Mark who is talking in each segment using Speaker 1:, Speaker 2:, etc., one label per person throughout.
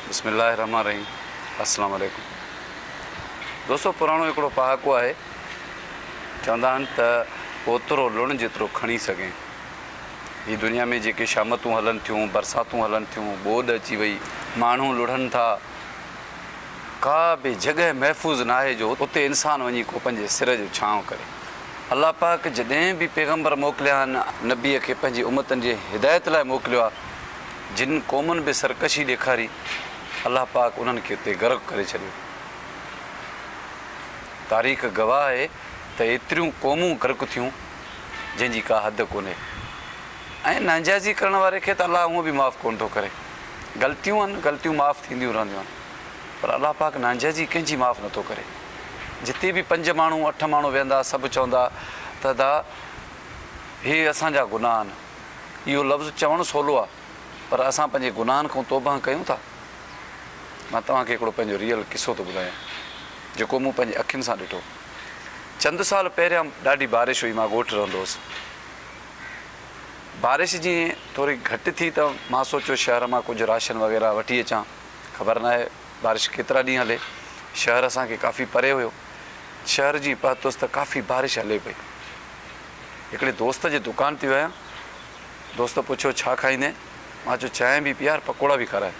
Speaker 1: بسم الله الرحمٰن الرحيم السلام عليڪم دوستو پراڻو هڪڙو پهاڪو آهي چوندا آهن ته اوترو لڻ جيترو کڻي سگهين هي دنيا ۾ جيڪي شامتون هلن ٿيون برساتون هلن ٿيون ٻوڏ اچي وئي ماڻهو لڙهن ٿا ڪا به جڳهه محفوظ ناهي جو اتي انسان وڃي ڪو پنهنجي سر جو ڇانو ڪري الله پاڪ جڏهن به پيغمبر موڪليا آهن نبي کي پنهنجي امتن جي هدايت لاء موڪليو آهي جن قومن به سرڪشي ڏيکاري، الله پاڪ انهن کي اتي غرق ڪري ڇڏيو. تاريخ گواهه آهي ته ايتريون قومون غرق ٿيون، جنهن جي ڪا حد ڪونهي ۽ نانجائزي ڪرڻ واري کي ته الله هونء به معاف ڪونه ٿو ڪري. غلطيون آهن، غلطيون معاف ٿينديون رهنديون آهن، پر الله پاڪ نانجائزي ڪنهن جي معاف نه ٿو ڪري. جتي به پنج ماڻهو، اٺ ماڻهو ويهندا، سڀ چوندا ته ادا هي اسان جا گناهه آهن. اهو لفظ چوڻ سولو آ پر اسان پنهنجي گناهن کان توبهه ڪيون ٿا؟ مان توهان کي هڪڙو پنهنجو ريئل قصو ٿو ٻڌايان جيڪو مون پنهنجي اکين سان ڏٺو. چند سال پهريان ڏاڍي بارش هئي مان ڳوٺ رهندو هوس. بارش جيئن ٿوري گهٽ ٿي ته مان سوچيو شهر مان ڪجهه راشن وغيره وٺي اچان. خبر ناهي بارش ڪيترا ڏينهن هلي. شهر اسان کي ڪافي پري هيو. شهر جيئن پهتس ته ڪافي بارش هلي پئي. هڪڙي دوست جي دڪان تي ويم. دوست پڇيو ڇا کائيندين؟ مان چيو چانهه به پيار پڪوڙا به کاراء.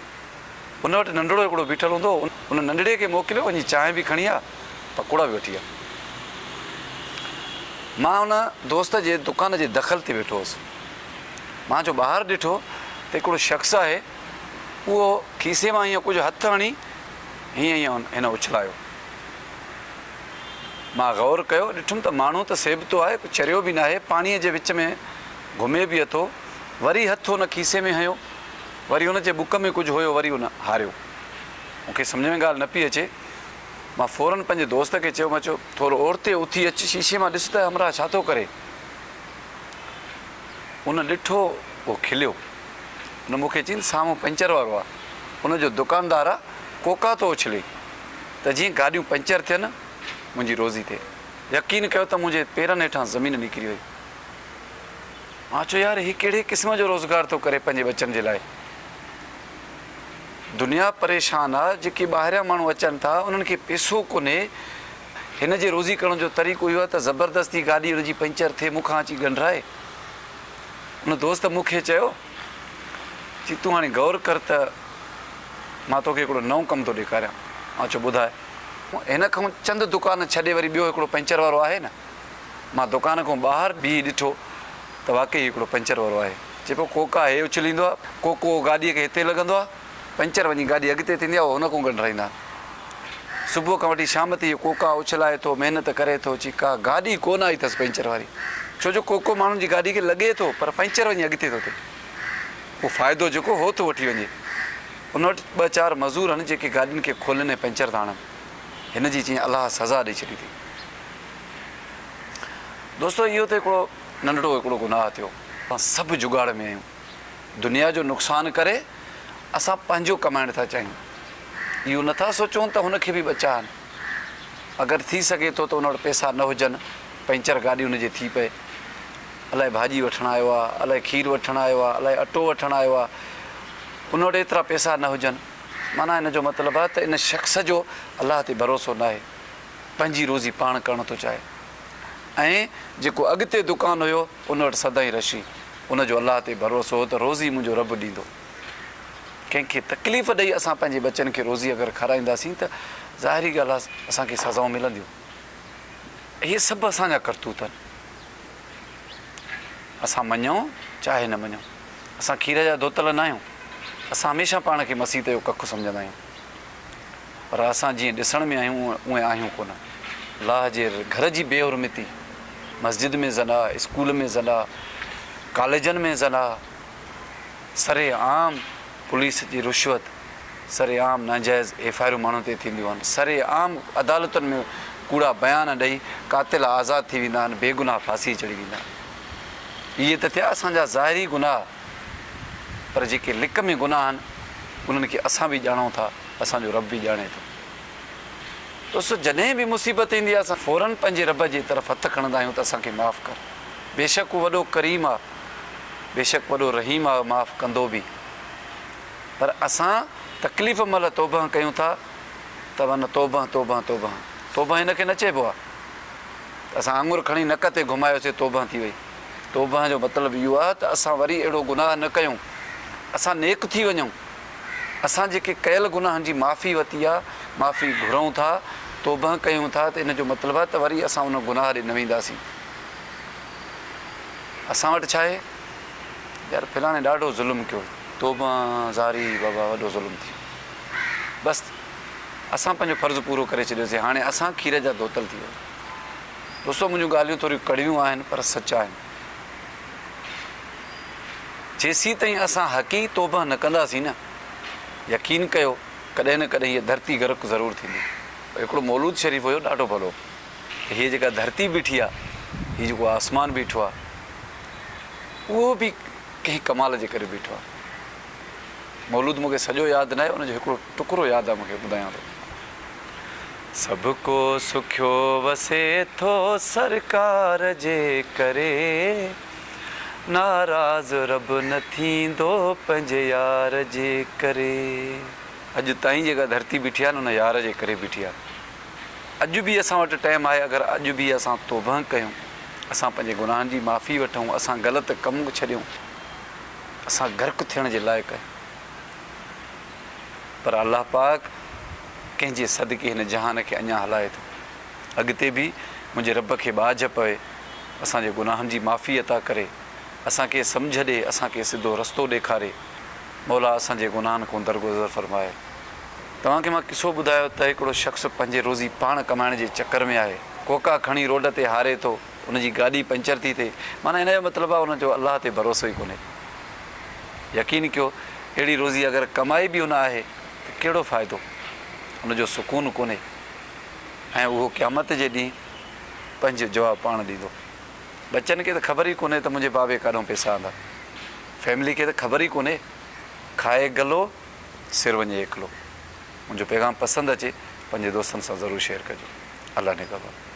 Speaker 1: ان وٽ ننڍڙو هڪڙو بيٺل هوندو هو. ان ننڍڙي کي موڪليو وڃي چانهه به کڻي آء پڪوڙا به وٺي آء. مان ان دوست جي دڪان جي دخل تي ويٺو هوس. مان جو ٻاهر ڏٺو ته هڪڙو شخص آهي اهو کيسي مان هيئن ڪجهه هٿ هڻي هيئن هيئن هن اڇلايو. مان غور ڪيو، ڏٺم ته ماڻهو ته سيبتو آهي، ڪو چريو به ناهي، پاڻيء جي وچ ۾ گهمي به اٿو، وري هٿ هن کيسي ۾ هنيو، وري هن جي بک ۾ ڪجهه هيو، وري هن هاريو. مون کي سمجهه ۾ ڳالهه نه پئي اچي. مان فوراً پنهنجي دوست کي چيو، مان چيو، ٿورو اورتي اٿي اچ، شيشي مان ڏس ته همراهه ڇا ٿو ڪري؟ هن ڏٺو، هو کليو. هن مون کي چيائين، سامهون پنچر وارو آ، ان جو دڪاندار آ، ڪوڪا ٿو اڇلي. ته جيئن گاڏيون پنچر ٿين منهنجي روزي ٿئي يقين ڪيو ته منهنجي پيرن هيٺان زمين نڪري وئي مان چيو يار هي ڪهڙي قسم جو روزگار ٿو ڪري پنهنجي ٻچن جي لاء دنيا پريشان آ جيڪي ٻاهريان ماڻهو اچن ٿا انهن کي پيسو ڪونهي هن جي روزي ڪرڻ جو طريقو اهو آ ته زبردستي گاڏي هن جي پنچر ٿئي مون کان اچي ڳنڍرائي ان دوست مون کي چيو چي تون هاڻي غور ڪر ته مان توکي هڪڙو نئون ڪم ٿو ڏيکاريان. آء چيو ٻڌاء. هن کانئن چند دڪان ڇڏي وري ٻيو هڪڙو پنچر وارو آهي نه؟ مان دڪان کان ٻاهر بيهي ڏٺو ته واقعي هڪڙو پنچر وارو آهي. چي پيو ڪوڪا هي اڇليندو آ، ڪوڪو گاڏيء کي هتي لڳندو آ. پنچر وڃي گاڏي اڳتي ٿيندي آهي، اهو هن کان ڳنڍرائيندا آهن. صبح کان وٺي شام تائين اهو ڪوڪا اڇلائي ٿو، محنت ڪري ٿو، چي ڪا گاڏي ڪو نه آئي اٿس پنچر واري، ڇو جو ڪوڪو ماڻهن جي گاڏي کي لڳي ٿو، پر پنچر وڃي اڳتي ٿو ٿئي. اهو فائدو جيڪو هو ٿو وٺي وڃي. ان وٽ ٻه چار مزور آهن، جيڪي گاڏين کي کولين ۽ پنچر ٿا هڻن. هن جي چيائين الله سزا ڏئي ڇڏي اٿئي. دوستو! اهو ته هڪڙو ننڍڙو هڪڙو گناهه ٿيو. اسان سڀ جگاڙ ۾ آهيون. دنيا جو نقصان ڪري اسان پنهنجو ڪمائڻ ٿا چاهيون. اهو نه ٿا سوچون ته هن کي به ٻچا آهن. اگر ٿي سگهي ٿو ته ان وٽ پئسا نه هجن، پئنچر گاڏي ان جي ٿي پئي. الائي ڀاڄي وٺڻ آيو آهي، الائي کير وٺڻ آيو آهي، الائي اٽو وٺڻ آيو آهي. ان وٽ ايترا پئسا نه هجن. معنيٰ ان جو مطلب آهي ته ان شخص جو الله تي ڀروسو ناهي. پنهنجي روزي پاڻ ڪرڻ ٿو چاهي. ۽ جيڪو اڳتي دڪان هيو. ان وٽ سدائين رھشي. ان جو الله تي ڀروسو ھو ته روزي منھنجو رب ڏيندو. ڪنھن کي تڪليف ڏئي اسان پنھنجي ٻچن کي روزي اگر کارائينداسين ته ظاھري ڳالھه آھي اسان کي سزائون ملنديون. اھي سڀ اسان جا ڪرتوت آھن. اسان مڃون چاھي نه مڃون. اسان کير جا ڌوتل ناھيون. اسان ھميشه پاڻ کي مسيت جو ڪک سمجھندا آھيون. پر اسان جيئن ڏسڻ ۾ آهيون اونئن آهيون ڪونه. لاهه جي گهر جي بي حرمتي، مسجد ۾ زنا، اسڪول ۾ زنا، ڪاليجن ۾ زنا، سري عام پوليس جي رشوت، سري عام ناجائز ايف آء آرون ماڻهن تي ٿينديون آهن، سري عام عدالتن ۾ ڪوڙا بيان ڏئي قاتل آزاد ٿي ويندا آهن، بيگناهه ڦاسي چڙهي ويندا آهن. اهي ته ٿيا اسان جا ظاهري گناهه. پر جيڪي لڪ ۾ گناهه آهن، انهن کي اسان به ڄاڻون ٿا، اسان جو رب به ڄاڻي ٿو. ڏس! جڏهن به مصيبت ايندي آهي، اسان فوراً پنهنجي رب جي طرف هٿ کڻندا آهيون ته اسان کي معاف ڪر، بيشڪ هو وڏو ڪريم آهي، بيشڪ وڏو رحيم آهي، معاف ڪندو به. پر اسان تڪليف مهل توبهه ڪيون ٿا ته ون توبهه، توبهه، توبهه. توبهه ان کي نه چئبو آهي ته اسان آڱر کڻي نڪ تي گهمايوسين، توبهه ٿي وئي. توبهه جو مطلب اهو آهي ته اسان وري اهڙو گناهه نه ڪيون، اسان نيڪ ٿي وڃون، اسان جيڪي ڪيل گناهن جي معافي وتي آهي، معافي گهرئون ٿا، توبهه ڪيون ٿا ته ان جو مطلب آهي ته وري اسان ان گناهه ڏي نه وينداسين. اسان وٽ ڇا آهي؟ يار فلاڻي ڏاڍو ظلم ڪيو، توبهه زاري بابا وڏو ظلم ٿي ويو، بس اسان پنهنجو فرض پورو ڪري ڇڏيوسين، هاڻي اسان کير جا ڌوتل ٿي ويا. دوستو منهنجون ڳالهيون ٿوريون ڪڙويون آهن پر سچ آهن. جيسين تائين اسان حقيقي توبه نه ڪنداسين نه يقين ڪيو ڪڏهن نه ڪڏهن هيء ڌرتي غرق ضرور ٿيندي. هڪڙو مولود شريف هيو ڏاڍو ڀلو ته هيء جيڪا ڌرتي بيٺي آ هي جيڪو آسمان بيٺو آ اهو به ڪنهن ڪمال جي ڪري بيٺو آ. مولود مونکي سڄو ياد ناهي ان جو هڪڙو ٽڪرو ياد آ مونکي ٻڌايان ٿو. سڀ ڪو سکيو وسي ٿو سرڪار جي ڪري ناراض رب نه ٿيندو پنهنجي يار جي ڪري. اڄ تائين جيڪا ڌرتي بيٺي آ نه ان يار جي ڪري بيٺي آ اڄ به اسان وٽ ٽيم آهي اگر اڄ به اسان توبهه ڪيون اسان پنهنجي گناهن جي معافي وٺون اسان غلط ڪم ڇڏيون اسان غرق ٿيڻ جي لائق آهيون. پر الله پاڪ ڪنهن جي صدقي هن جهان کي اڃا هلائي ٿو. اڳتي به منهنجي رب کي ٻاجهه پوي اسان جي گناهن جي معافي عطا ڪري، اسان کي سمجهه ڏي، اسان کي سڌو رستو ڏيکاري. مولا اسان جي گناهن کون درگذر فرماء. توهان کي مان قصو ٻڌايو ته هڪڙو شخص پنهنجي روزي پاڻ ڪمائڻ جي چڪر ۾ آهي. ڪوڪا کڻي روڊ تي هاري ٿو. ان جي گاڏي پنچر ٿي ٿئي معنيٰ ان جو مطلب آهي ان جو الله تي ڀروسو ئي ڪونهي. يقين ڪيو اهڙي روزي اگر ڪمائي به ان آهي ته ڪهڙو فائدو ان جو سڪون ڪونهي ۽ اهو قيامت جي ڏينهن پنهنجو جواب پاڻ ڏيندو. ٻچن کي ته خبر ئي ڪونهي ته منهنجي بابي ڪاڏهون پيسا آندا. فيملي کي ته خبر ئي ڪونهي. کائي گلو سر وڃي ايڪلو. منهنجو پيغام پسند اچي پنهنجي دوستن سان ضرور شيئر ڪجو. الله نگهبان.